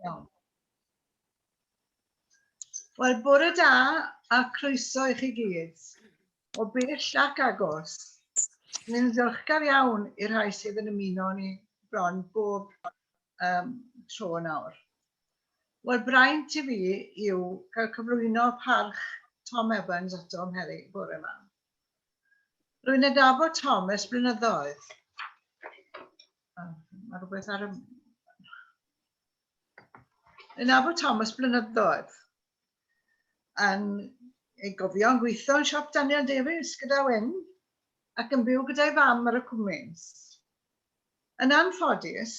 Iawn. Wel, bore da a croeso i chi gyd, o bell ac agos. Ni'n ddiolchgar iawn i'r rhai sydd yn ymuno ni bron bob um, tro yn awr. Wel, braint i fi yw cael cyflwyno parch Tom Evans ato am heddi bore yma. Rwy'n adnabod Tom ers blynyddoedd. Mae rhywbeth ar y... Yn Afo Thomas blynyddoedd, yn ei gofio yn gweithio yn siop Daniel Davies gyda Wen ac yn byw gyda'i fam ar y cwmins. Yn anffodus,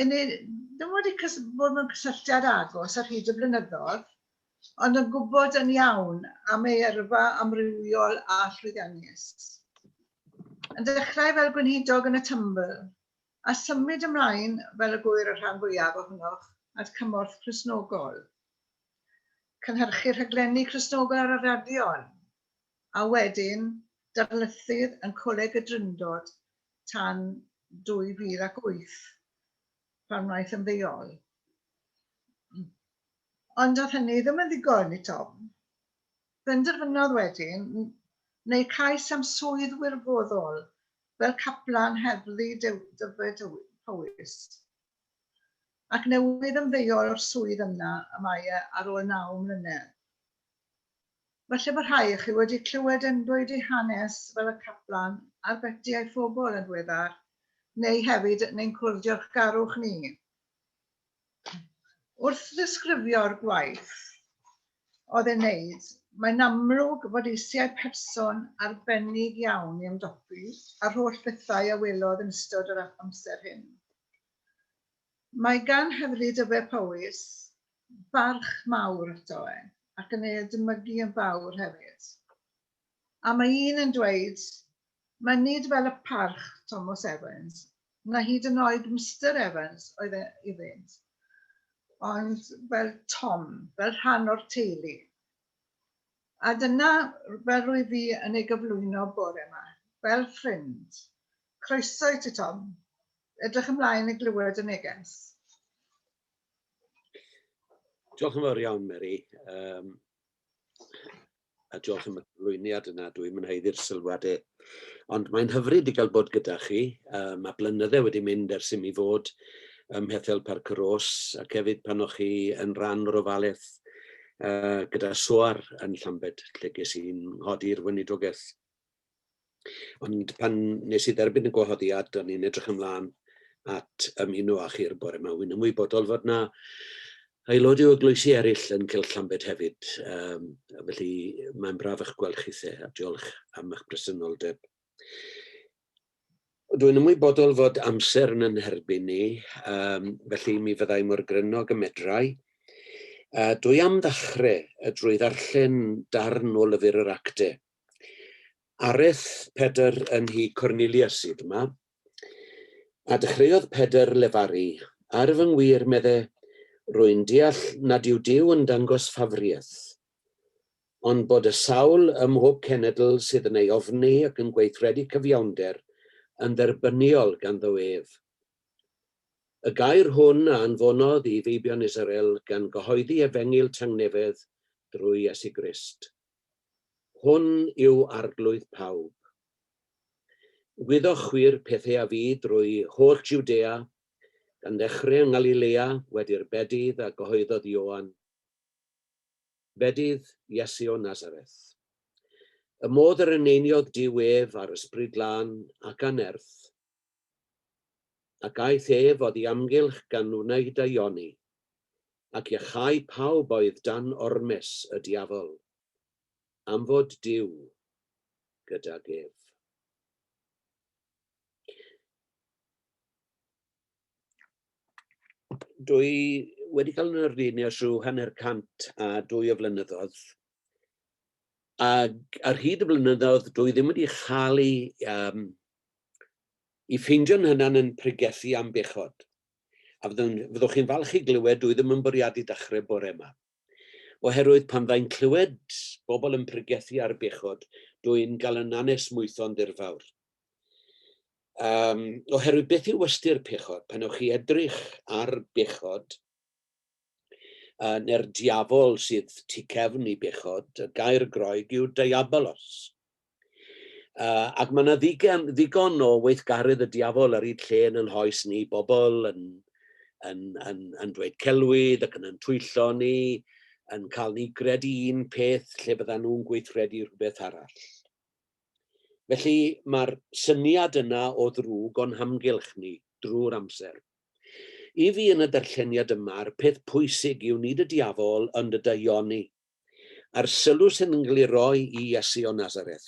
yn ei, ddim wedi bod mewn cysylltiad agos ar hyd y blynyddoedd, ond yn gwybod yn iawn am ei yrfa amrywiol a llwyddiannus. Yn dechrau fel gweinidog yn y Tymbl, a symud ymlaen fel y gŵyr y rhan fwyaf ohonoch at Cymorth Cristnogol, cynhyrchu rhaglenni Cristnogol ar y radion, a wedyn darlithydd yn Coleg y Drindod tan 2008, pan wnaeth ymddeol. Ond doedd hynny ddim yn ddigon i Tom. Penderfynodd wedyn wneud cais am swydd wirfoddol fel caplan Heddlu Dyfed-Powys, ac newydd ymddeol o'r swydd yna y mae e ar ôl naw mlynedd. Falle bod rhai o chi wedi clywed enbyd ei hanes fel y caplan ar Beti a'i Phobl yn ddiweddar, neu hefyd yn ein cwrdd diolchgarwch ni. Wrth ddisgrifio'r gwaith oedd ei wneud, mae'n amlwg fod eisiau person arbennig iawn i ymdopi â'r holl bethau a welodd yn ystod yr amser hyn. Mae gan Heddlu Dyfed-Powys barch mawr ato e, ac yn ei edmygu yn fawr hefyd. a mae un yn dweud, mae nid fel y parch Tomos Evans, na hyd yn oed Mister Evans oedd e iddynt, ond fel Tom, fel rhan o'r teulu. A dyna fel rwyf fi yn ei gyflwyno bore yma, fel ffrind. Croeso i ti Tom. Edrych ymlaen i glywed y neges. Diolch yn fawr iawn, Mary. Um, a diolch am y cyflwyniad yna, dwi'n mynhaeddu'r i'r sylwadau. Ond mae'n hyfryd i gael bod gyda chi. Um, mae blynyddau wedi mynd ers i mi fod ym Mhethel Parc y Ros, ac hefyd pan o'ch chi yn rhan o'r ofalaeth uh, gyda Soar yn Llambed, lle ges i'n nghodi'r weinidogaeth. Ond pan nes i dderbyn y gwahoddiad, o'n i'n edrych ymlaen at ymuno â chi'r bore yma. Wy'n ymwybodol fod yna aelodi o eglwysi eraill yn Cylch Llambed hefyd, um, felly mae'n braf eich gweld chi the, a diolch am eich presenoldeb. Dwi'n ymwybodol fod amser yn ynherbyn ni, um, felly mi fyddai mor grynog y medrau. Uh, dwi am ddechrau drwy ddarllen darn o lyfr yr acte, Areth Pedr yn nhy Cornilius sydd yma. A dechreuodd Pedr lefaru. Ar fy ngwir, medde, rwy'n deall nad yw Duw yn dangos ffafriaeth, ond bod y sawl ym mhob cenedl sydd yn ei ofni ac yn gweithredu cyfiawnder yn dderbyniol ganddo ef. Y gair hwn a anfonodd i feibion Israel gan gyhoeddi efengyl tangnefedd drwy Iesu Grist. Hwn yw arglwydd pawb. Gwyddoch chwi'r pethau a fu drwy holl Jwdea, gan ddechreu yng Ngalilea wedi'r bedydd a gyhoeddodd Ioan, bedydd Iesu o Nazareth. Y modd yr eneiniodd Duw ef â'r Ysbryd Glân ac â nerth. Ac aeth ef oddi amgylch gan wneud a ioni, ac iachau pawb oedd dan ormes y diafol, am fod Duw gydag ef. Dwi wedi cael yn yr un Iesu hanner cant a dwy o flynyddoedd, ac ar hyd y blynyddoedd dwi ddim wedi chael ei um, i ffeindio'n hunan yn pregethu am bechod. A fyddwn, fyddwch chi'n falch i glywed, dw i ddim yn bwriadu dachre bore 'ma. Oherwydd pan fydda i'n clywed bobl yn pregethu ar bechod, dw i'n gael yn anesmwytho'n ddirfawr. Um, oherwydd beth yw ystyr pechod? Pan ewch chi edrych ar bechod, uh, neu'r diafol sydd tu cefn i bechod, y gair groeg yw diabolos. Uh, ac mae yna ddigon, ddigon o weithgaredd y diafol ar un lle yn yn hoes ni, bobl yn, yn, yn, yn dweud celwydd ac yn yn twyllo ni, yn cael ni gredu un peth lle byddan nhw'n gweithredu rhywbeth arall. Felly mae'r syniad yna o ddrwg o'n hamgylch ni drwy'r amser. I fi yn y darlleniad yma'r peth pwysig yw nid y diafol ond y daioni, a'r sylw sy'n nghliroi i Iesu o Nazareth,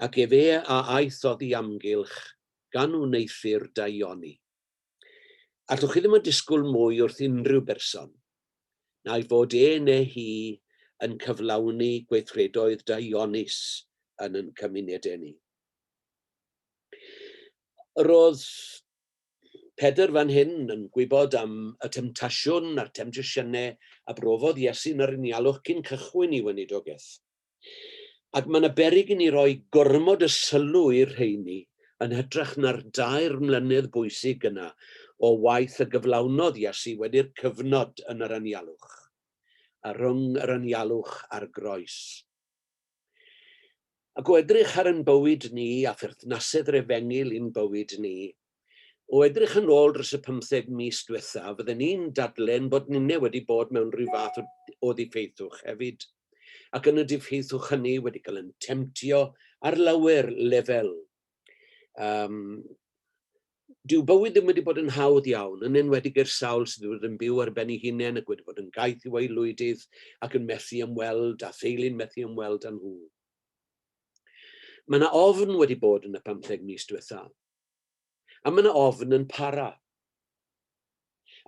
ac efe a aeth oddi amgylch gan wneuthur daioni. Allwch chi ddim yn disgwyl mwy wrth unrhyw berson, na'i fod e neu hi yn cyflawni gweithredoedd daionus yn yn cymunedau ni. Roedd Pedr fan hyn yn gwybod am y temtasiwn a'r temtasiynau a brofodd Iesu yn yr anialwch cyn cychwyn i weinidogaeth. Ac mae yna berig i ni roi gormod o sylw i'r rheini, yn hytrach na'r dair mlynedd bwysig yna o waith y gyflawnodd Iesu wedi'r cyfnod yn yr anialwch a rhwng yr anialwch a'r groes. Ac o edrych ar ein bywyd ni a pherthnasedd yr Efengyl i'n bywyd ni, o edrych yn ôl dros y pymtheg mis diwetha, fydden i'n dadlen bod ninne wedi bod mewn rhyw fath o o ddiffeithwch hefyd, ac yn y diffeithwch hynny wedi cael ein temtio ar lawer lefel. Yym. Dyw bywyd ddim wedi bod yn hawdd iawn, yn enwedig i'r sawl sydd wedi bod yn byw ar ben ei hunain ac wedi bod yn gaeth i'w aelwydydd ac yn methu ymweld â theulu'n methu ymweld â nhw. Mae yna ofn wedi bod yn y pymtheg mis diwetha. A mae yna ofn yn para.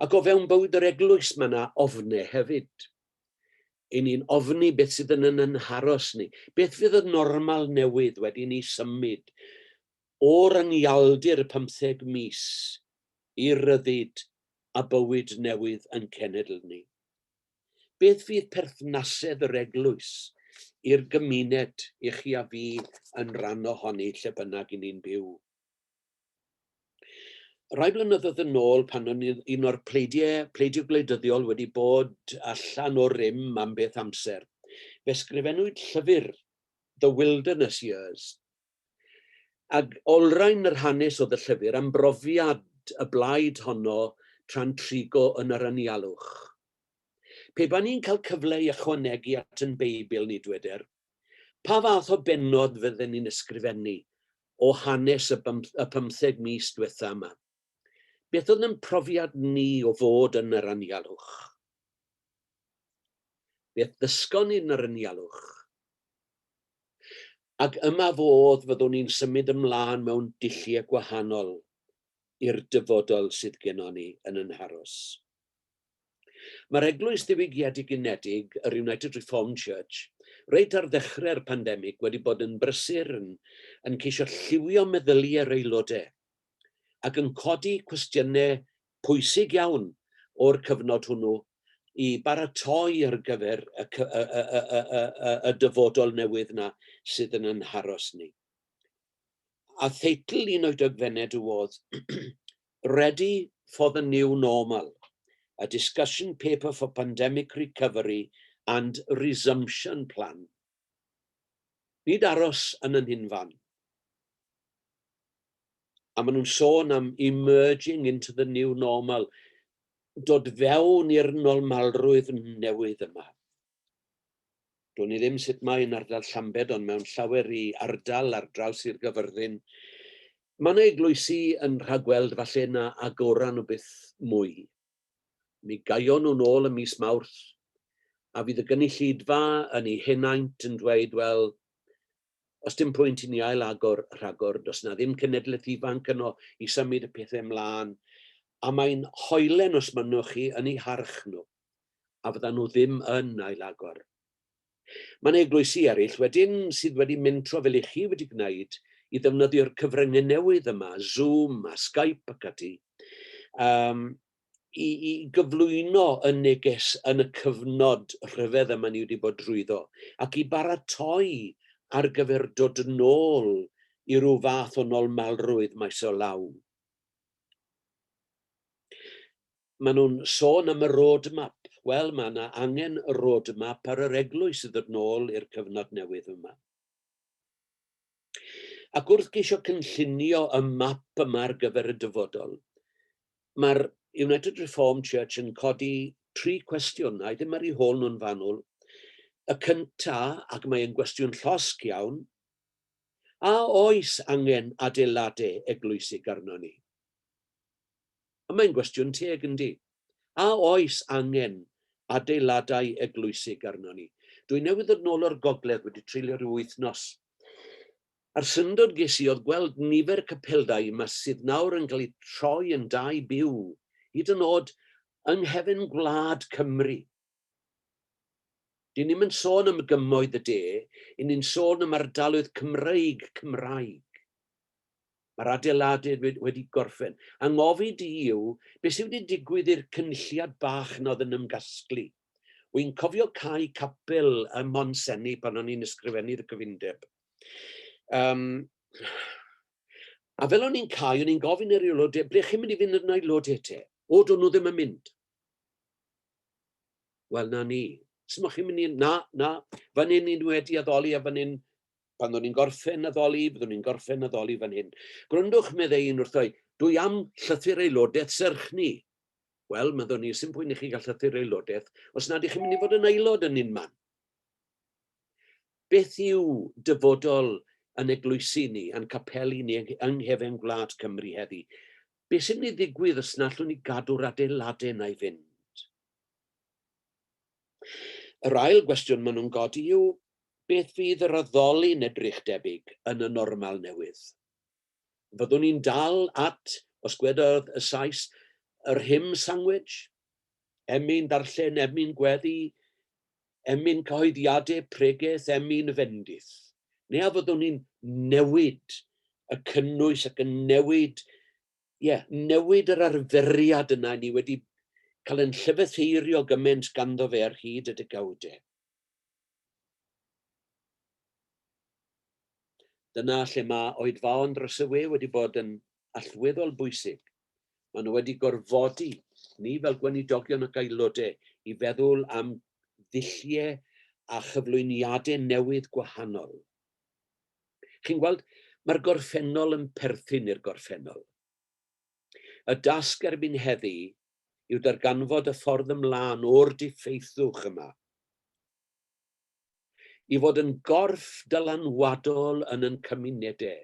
Ac o fewn bywyd yr eglwys mae yna ofne hefyd. I ni'n ofni beth sydd yn yn haros ni. Beth fydd y normal newydd wedi ni symud O ran ialdir y pymtheg mis i ryddid a bywyd newydd yn cenedl ni, beth fydd perthnasedd yr eglwys i'r gymuned i chi a fi yn ran ohoni lle bynnag i ni'n byw? Rai blynyddoedd yn ôl pan o'n i'n un o'r pleidiau, pleidiau gwleidyddiol wedi bod allan o rym am beth amser, fe sgrifennwyd llyfr The Wilderness Years Ag olrhain yr hanes o'dd y llyfr am brofiad y blaid honno tra'n trigo yn yr anialwch. Pe ba'n i'n cael cyfle i ychwanegu at yn Beibl ni, dweder, pa fath o bennod fydden ni'n ysgrifennu o hanes y y pymtheg mis dwetha yma? Beth oedd yn profiad ni o fod yn yr anialwch? Beth ddysgon ni yn yr anialwch? Ac yma fodd fyddwn ni'n symud ymlaen mewn dulliau gwahanol i'r dyfodol sydd gennon ni yn y Nharws. Mae'r Eglwys Ddiwygiedig Unedig, yr United Reformed Church, reit ar ddechrau'r pandemig wedi bod yn brysur yn, yn ceisio lliwio meddyliau'r aelodau ac yn codi cwestiynau pwysig iawn o'r cyfnod hwnnw i baratoi ar gyfer y dyfodol newydd 'na sydd yn 'yn haros ni. A theitl un o'i dogfennau o oedd Ready for the New Normal, a discussion paper for pandemic recovery and resumption plan. Nid aros yn y nhunfan. A maen nhw'n sôn am emerging into the new normal, dod fewn i'r nolmalrwydd newydd yma. Do'n i ddim sut mae yn ardal Llambed, ond mewn llawer i ardal ar draws Sir Gyfyrddin, mae yna eglwysi yn rhagweld falle na agoran o byth mwy. Mi gaeon nhw nôl ym mis Mawrth, a fydd y gynulleidfa yn eu henaint yn dweud, wel, os dim pwynt i ni ail-agor rhagor, does yna ddim cenedlaeth ifanc yno i symud y pethau ymlaen, a mae'n hoelen os mynnwch chi yn eu harch nhw, a fyddan nhw ddim yn ail-agor. Mae'n eglwysi eraill wedyn sydd wedi mynd tro fel i chi wedi gwneud i ddefnyddio'r cyfryngau newydd yma, Zoom a Skype ac ati, um, i, i gyflwyno y neges yn y cyfnod rhyfedd yma ni wedi bod drwyddo, ac i baratoi ar gyfer dod yn ôl i ryw fath o nolmalrwydd maes o law. Maen nhw'n sôn am y road map. Wel, mae yna angen road map ar yr eglwys i ddod nôl i'r cyfnod newydd yma. Ac wrth geisio cynllunio y map yma ar gyfer y dyfodol, mae'r United Reformed Church yn codi tri cwestiwn, a i ddim ar eu hôl nhw'n fanwl. Y cynta, ac mae'n gwestiwn llosg iawn, a oes angen adeiladu eglwysig arno ni? A mae'n gwestiwn teg, yndi. A oes angen adeiladau eglwysig arnon ni? Dwi newydd ddod nôl o'r gogledd, wedi treulio rhyw wythnos. A'r syndod ges i oedd gweld nifer capeldai yma sydd nawr yn cael eu troi yn dai byw, hyd yn od yng nghefn gwlad Cymru. Dyn ni'm yn sôn am gymoedd y de, i ni'n sôn am ardaloedd Cymreig, Cymraeg. Mae'r adeiladu wedi gorffen. A ngofid di yw, be sy wedi digwydd i'r cynlliad bach 'na oedd yn ymgasglu? Wy'n cofio cau capel ym Mhonsenni pan o'n i'n Ysgrifennydd y Cyfundeb. Um, a fel o'n i'n cau, o'n i'n gofyn i'r aelodau, ble chi'n mynd i fynd yn aelodau te? O, do'n nhw ddim yn mynd. Wel, na ni. Sut chi'n mynd i... Na, na. Fan hyn ni'n wedi addoli a fan hyn, pan ddwn ni'n gorffen addoli, byddwn ni'n gorffen addoli fan hyn. Gwrandwch, meddai un wrtho i, dwi am llythyr aelodaeth serch ni. Wel, meddwn ni, sy'n pwy'n i chi gael llythyr aelodaeth os nad ych chi'n mynd i fod yn aelod yn unman. Beth yw dyfodol yn eglwysi ni, yn capeli ni yng nghefen gwlad Cymru heddi? Beth sy'n mynd i ddigwydd os na allwn ni gadw'r adeiladau yna i fynd? Yr ail gwestiwn maen nhw'n godi yw, beth fydd yr addoli'n edrych debyg yn y normal newydd? Fyddwn ni'n dal at, os gwedodd y Sais, yr him sangwij? Emmy'n darllen, emmy'n gweddu, emyn cyhoeddiade pregeth emyn fendith, ne a fyddwn ni'n newid y cynnwys ac yn newid, ie, newid yr arferiad yna ni wedi cael ein llyfetheirio gyment ganddo fe ar hyd y degawde. Dyna lle mae oedfaon dros y we wedi bod yn allweddol bwysig. Maen nhw wedi gorfodi ni fel Gweinidogion ac Aelodau i feddwl am ddulliau a chyflwyniadau newydd gwahanol. Chi'n gweld, mae'r gorffennol yn perthyn i'r gorffennol. Y dasg erbyn heddi yw darganfod y ffordd ymlaen o'r diffeithwch yma. i fod yn gorff dylanwadol yn yn cymunedau,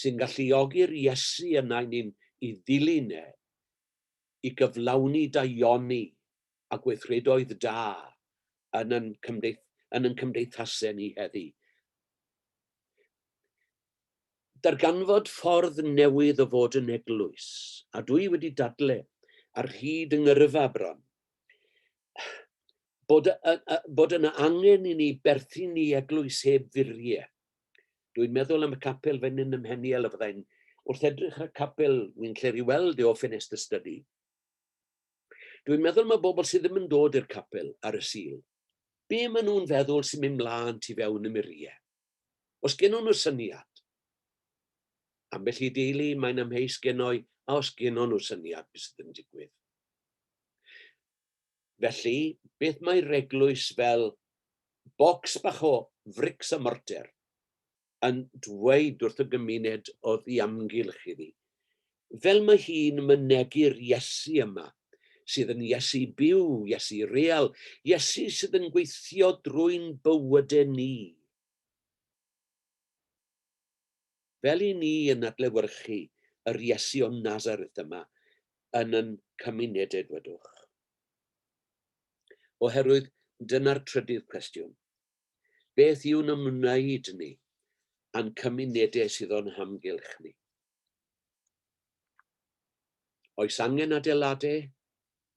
sy'n galluogi'r Iesu yna i ni i ddilyn e, i gyflawni daioni a gweithredoedd da yn yn yn yn cymdeithasau ni heddi. Darganfod ffordd newydd o fod yn eglwys, a dwi wedi dadle ar hyd yng ngyrfa bron. bod, y, y, bod yna angen i ni berthyn i eglwys heb furiau. Dwi'n meddwl am y capel fan hyn ym Mheniel a fyddai'n wrth edrych ar y capel, wi'n lle'r i weld e o ffenest y stydi. Dwi'n meddwl mae bobl sydd ddim yn dod i'r capel ar y sil. Be maen nhw'n feddwl sy'n mynd mlaen tu fewn y muriau? Os gen nhw syniad, ambell i deulu mae'n amheus genoi a os gen nhw syniad beth sydd yn digwydd. Felly, beth mae'r eglwys fel bocs bach o frics a morter yn dweud wrth y gymuned oddi amgylch iddi? Fel mae hi'n mynegi'r Iesu yma, sydd yn Iesu byw, Iesu real, Iesu sydd yn gweithio drwy'n bywydau ni. Fel i ni yn adlewyrchu yr Iesu o Nazareth yma yn yn cymunedau, dwedwch. Oherwydd dyna'r trydydd cwestiwn. Beth yw'n ymwneud ni a'n cymunedau sydd o'n hamgylch ni? Oes angen adeiladau?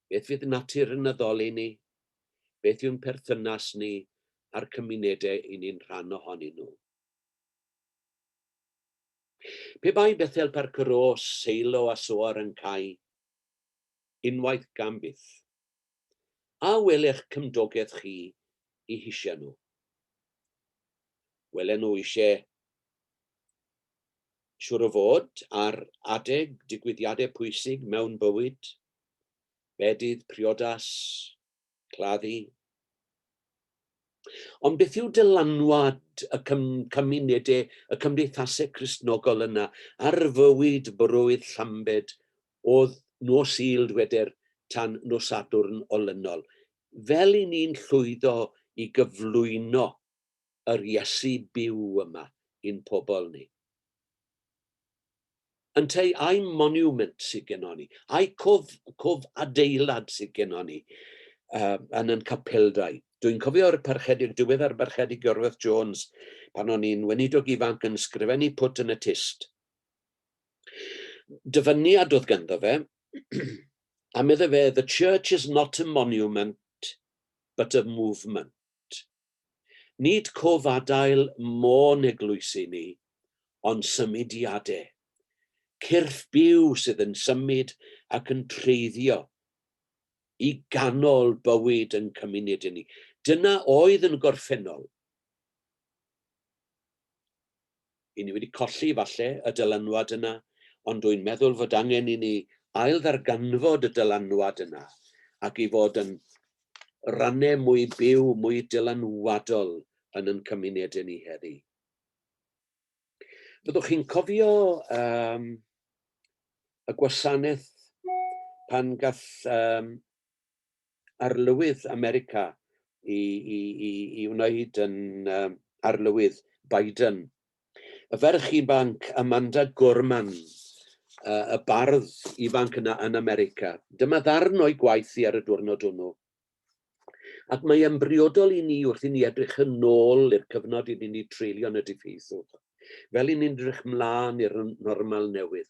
Beth fydd natur yn addoli ni? Beth yw'n perthynas ni a'r cymunedau i ni'n rhan ohonyn nhw? Pe bai Bethel Parc Rôs, Seilo a Soar yn cau unwaith gan byth, a wel eich cymdogaeth chi i hisia nhw? Welen nhw isie siwr o fod ar adeg digwyddiadau pwysig mewn bywyd, bedydd, priodas, claddu. Ond beth yw dylanwad y cym cymunede, y cymdeithasau Cristnogol yna ar fywyd brwydd Llambed o nos Sul dweder tan nos Sadwrn olynol, fel i ni'n llwyddo i gyflwyno yr Iesu byw yma i'n pobl ni. Ynteu ai monument sydd gennon ni, ai cof, cof adeilad sydd gennon ni uh, yn yn capeldau. Dwi'n cofio'r parchedig, diwedda'r parchedig Gorweth Jones, pan o'n i'n weinidog ifanc yn sgrifennu pwt yn y tist. Dyfyniad oedd ganddo fe, a meddai fe, the church is not a monument, but a movement. Nid cof adael môn eglwysi ni, ond symudiade. Cyrff byw sydd yn symud ac yn treiddio i ganol bywyd yn cymuned ni. Dyna oedd yn gorffennol. Ŷn ni wedi colli, falle, y dylanwad yna, ond dw i'n meddwl fod angen i ni ailddarganfod y dylanwad yna ac i fod yn rannau mwy byw, mwy dylanwadol yn yn cymunedau ni heddi. Byddwch chi'n cofio um, y gwasanaeth pan gath um, arlywydd America i i i i wneud yn um, arlywydd Biden. Y ferch ifanc Amanda Gorman, uh, y bardd ifanc yna yn America. Dyma ddarn o'i gwaith i ar y diwrnod hwnnw. Ac mae ymbriodol i ni wrth i ni edrych yn ôl i'r cyfnod i ni ni treulio yn y diffeithwch, fel i ni'n edrych mlaen i'r normal newydd.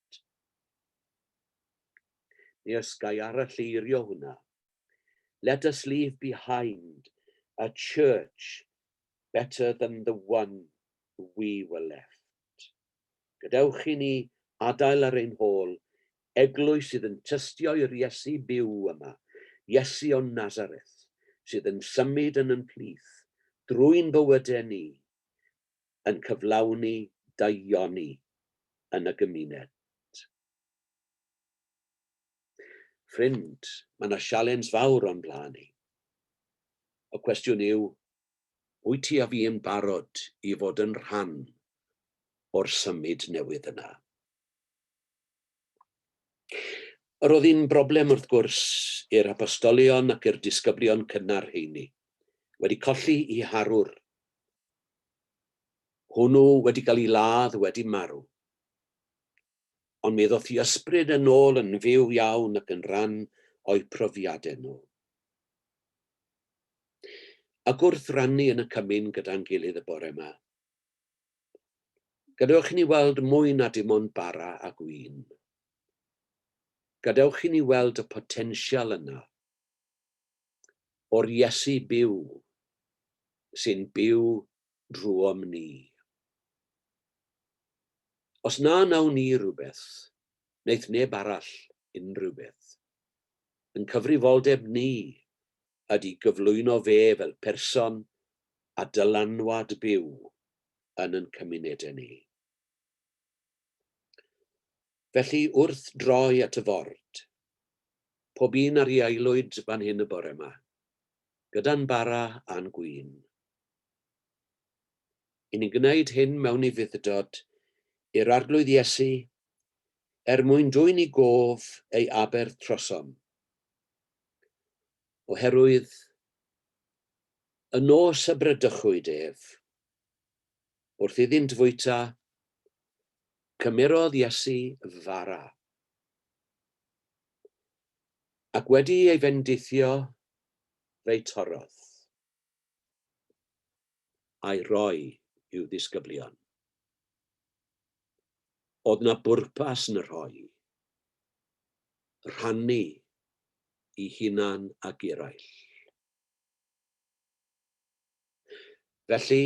Cymorth. Nes gai arall eirio hwnna. Let us leave behind a church better than the one we were left. Gadewch i ni adael ar ein hôl eglwys sydd yn tystio i'r Iesu byw yma, Iesu o Nazareth, sydd yn symud yn yn plith drwy'n bywydau ni, yn cyflawni daioni yn y gymuned. Ffrind, mae yna sialens fawr o'n blaen ni. Y cwestiwn yw, wyt ti a fi yn barod i fod yn rhan o'r symud newydd yna? Yr oedd un broblem, wrth gwrs, i'r Apostolion ac i'r disgyblion cynnar rheiny, wedi colli i harwr. Hwnnw wedi cael ei ladd, wedi marw. Ond mi ddoth i ysbryd yn ôl yn fyw iawn ac yn rhan o'u profiadau nhw. Ac wrth rannu yn y cymun gyda'n gilydd y bore yma, Gadewch i ni weld mwy na dim ond bara a gwin. Gadewch i ni weld y potensial yna o'r Iesu byw sy'n byw drwom ni. Os na wnawn ni rhywbeth, wneith neb arall unrhyw beth. Yn cyfrifoldeb ni ydy gyflwyno fe fel person a dylanwad byw yn yn cymunedau ni. Felly, wrth droi at y ford, pob un ar i aelwyd fan hyn y bore yma, gyda'n bara a'n gwin, i ni'n gwneud hyn mewn ufuddhdod i'r Arglwydd Iesu, er mwyn dwyn i gof ei aber trosom, oherwydd y nos y bradychwyd ef. Wrth iddynt fwyta, cymerodd Iesu fara. Ac wedi ei fendithio, fe'i torrodd. a'i roi i'w ddisgyblion. Oedd 'na bwrpas yn y rhoi, rhannu, i hunan ag eraill? Felly,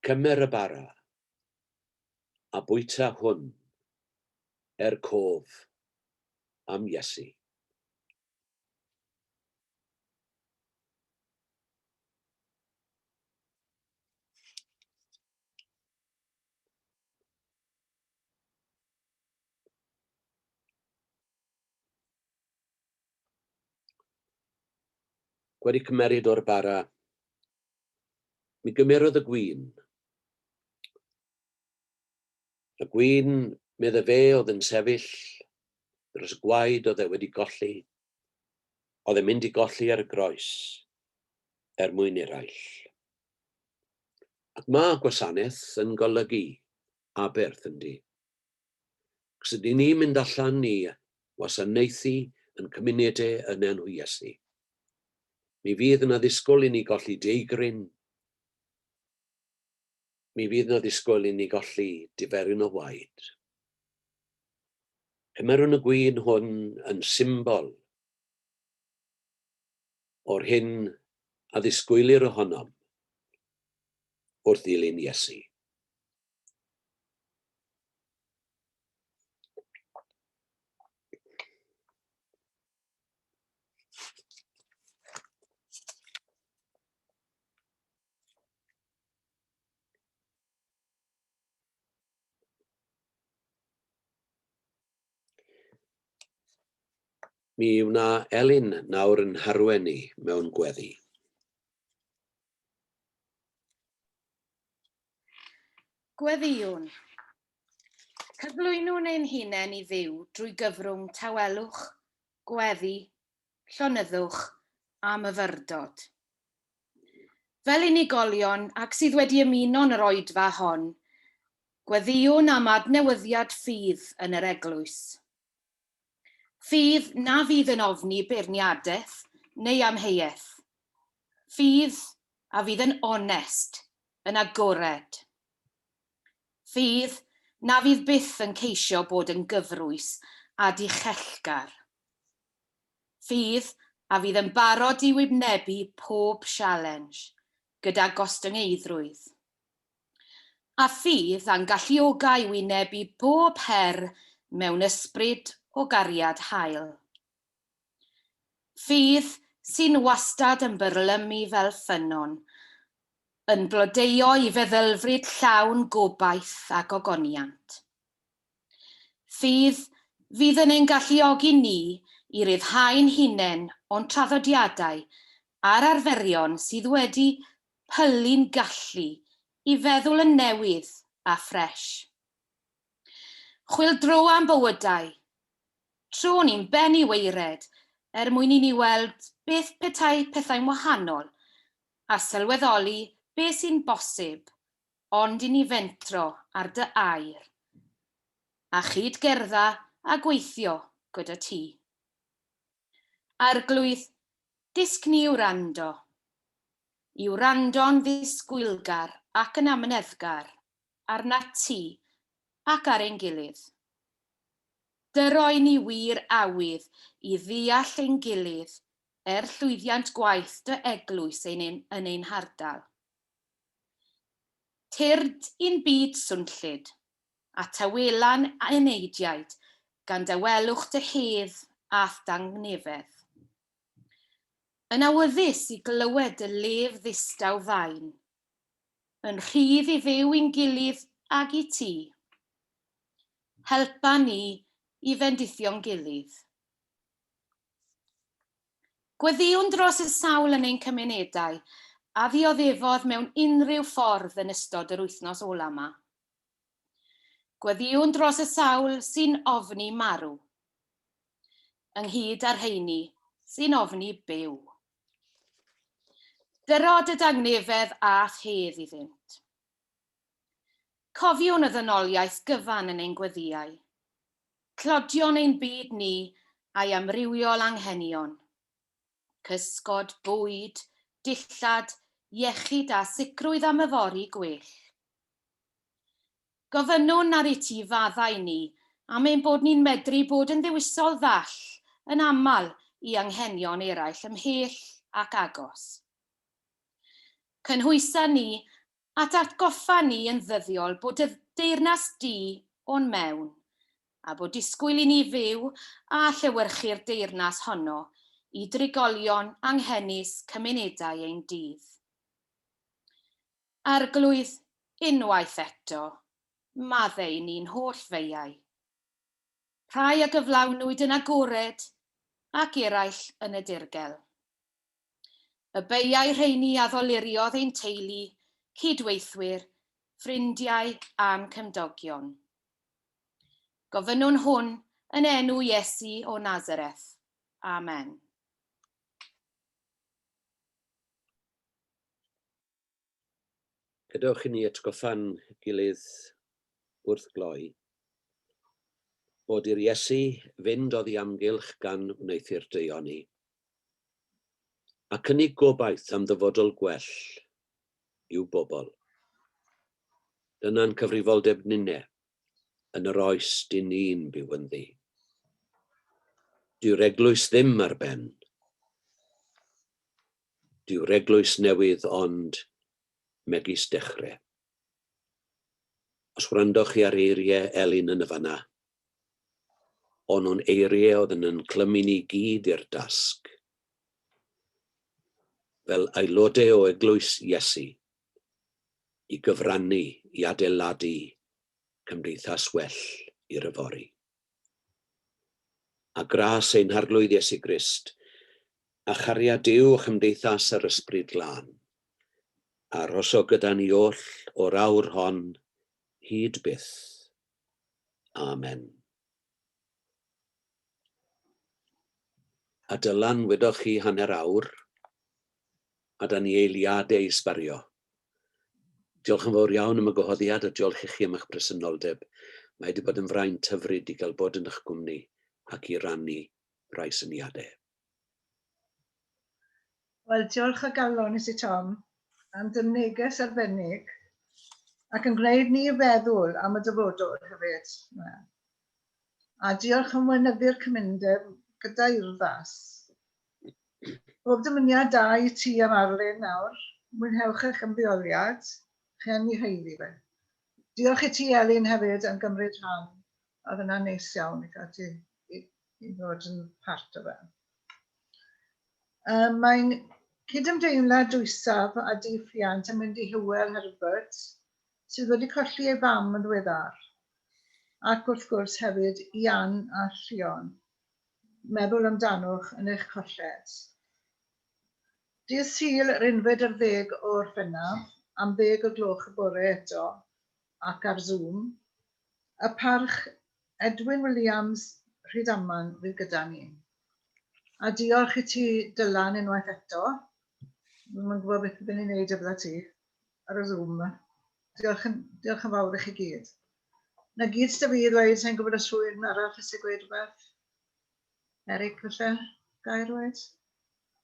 cymer y bara a bwyta hwn er cof am Iesu. wedi cymeryd o'r bara. Mi gymerodd y gwyn. Y gwin, medde fe oedd yn sefyll dros y gwaed oedd e wedi golli, oedd e'n mynd i golli ar y groes, er mwyn eraill. Ac mae gwasanaeth yn golygu aberth, yndi? Os ydyn ni'n mynd allan i wasanaethu yn cymunedau yn enw Iesu, mi fydd yna ddisgwyl i ni golli deigryn, Mi fydd 'na ddisgwyl inni golli diferyn o waed. Cymerwn y gwin hwn yn symbol o'r hyn a ddisgwylir ohonom wrth ddilyn Iesu. Mi wna Elin nawr yn harwen ni mewn gweddi. Gweddïwn. Cyflwynwn ein hunain i Dduw drwy gyfrwng tawelwch, gweddi, llonyddwch a myfyrdod. Fel unigolion ac sydd wedi ymuno'n yr oedfa hon, gweddïwn am adnewyddiad ffydd yn yr eglwys. Ffydd na fydd yn ofni beirniadaeth neu amheuaeth. Ffydd a fydd yn onest, yn agored. Ffydd na fydd byth yn ceisio bod yn gyfrwys a dichellgar. Fydd, a fydd yn barod i wynebu pob sialens, gyda gostyngeiddrwydd. A fydd â'n galluoga i wynebu pob her mewn ysbryd o gariad hael. Fydd, sy'n wastad yn byrlymu fel ffynnon, yn blodeuo i feddylfryd llawn gobaith a gogoniant. Fydd, fydd yn ein galluogi ni i ryddhau'n hunain o'n traddodiadau a'r arferion sydd wedi pylu'n gallu i feddwl yn newydd a ffresh. Chwyldro am bywydau. Tro ni'n bennu waered er mwyn i ni weld beth petai pethau'n wahanol a sylweddoli be sy'n bosib ond i ni fentro ar dy air a chyd gerdda a gweithio gyda ti. Arglwydd, dysg ni i wrando, i wrando'n ddisgwylgar ac yn amyneddgar arnat ti ac ar ein gilydd. Dyro i ni wir awydd i ddeall ein gilydd er llwyddiant gwaith dy eglwys yn ein hardal. Tyrd i'n byd swnllyd, a tawelan eneidiaid gan dawelwch dy hedd a'th dangnefedd. Yn awyddus i glywed dy lef ddistaw ddain, yn rhydd i fyw i'n gilydd ag i ti. Helpa ni i fendithio'n gilydd. Gweddïwn dros y sawl yn ein cymunedau a ddioddefodd mewn unrhyw ffordd yn ystod yr wythnos ola' 'ma. Gweddïwn dros y sawl sy'n ofni marw, ynghyd â'r rheini sy'n ofni byw. Dyro dy dangnefedd a'th hedd iddynt. Cofiwn y ddynoliaeth gyfan yn ein gweddïau. Clodion ein byd ni a'i amrywiol anghenion. Cysgod, bwyd, dillad, iechyd a sicrwydd am yfory gwell. Gofynnwn ar i ti faddau ni am ein bod ni'n medru bod yn ddewisol ddall yn aml i anghenion eraill ymhell ac agos. Cynhwysa ni At atgoffa ni yn ddyddiol bod y Deyrnas Du o'n mewn, a bod disgwyl i ni fyw a llewyrchu'r deyrnas honno i drigolion anghenus cymunedau ein dydd. Arglwydd, unwaith eto, maddeu ni'n holl feiau. Rhai a gyflawnwyd yn agored, ac eraill yn y dirgel. Y beiau rheini a ddoluriodd ein teulu, cyd-weithwyr, ffrindiau a'n cymdogion. Gofynnwn hwn yn enw Iesu o Nazareth. Amen. Gadewch i ni atgoffa'n gilydd wrth gloi, bod i'r Iesu fynd oddi amgylch gan wneuthur deuoni, a cynnig gobaith am ddyfodol gwell i'w bobl. Dyna'n cyfrifoldeb ninne yn yr oes dyn ni'n byw ynddi. Dyw'r eglwys ddim ar ben. Dyw'r eglwys newydd ond megis dechre. Os wrandoch chi ar eirie Elin yn y fanna, o' nhw'n eirie oedd yn yn clymu ni gyd i'r dasg. Fel aelode o eglwys Iesu, i gyfrannu i adeiladu cymdeithas well i'r yfory. a gras ein Harglwydd Iesu Grist, a chariad Duw a chymdeithas yr Ysbryd Glân, aroso gyda ni oll o'r awr hon hyd byth. Amen. A dylan, wedoch chi, hanner awr, a da ni eiliade i sbario. Diolch yn fawr iawn am y gwahoddiad a diolch i chi am eich presenoldeb. Mae wedi bod yn fraint hyfryd i gael bod yn eich gwmni ac i rannu rhai syniadau. Wel, diolch o galon i ti, Tom, am dy neges arbennig ac yn gwneud ni feddwl am y dyfodol hefyd. A diolch am weinyddu'r cymuned gyda'i urddas. Pob dymuniad da i ti a'r arlun nawr, mwynhewch eich ymddeoliad, chi yn ei haeddu fe. Diolch i ti Elin hefyd am gymryd rhan, oedd yna'n neis iawn i gael ti i, i fod yn part o fe. Um, mae'n cydymdeimlad dwysaf a diwylliant yn mynd i Hywel Herbert, sydd wedi colli ei fam yn ddiweddar, ac wrth gwrs hefyd Ian a Llion, meddwl amdanoch yn eich colled. Dydd Sul yr unfed ar ddeg o Orffennaf am ddeg o gloch y bore eto ac ar Zoom. Y Parch Edwin Williams Rhydaman fydd gyda ni. A diolch i ti Dylan unwaith eto. Mae'n gwybod beth byddwn ni'n neud efo ti ar y Zoom. Diolch yn, diolch yn fawr i chi gyd. 'Na gyd s'da fi i ddweud, sa i'n gwybod os rhywun arall isie gweud rhywbeth? Eric falle? Gair oes?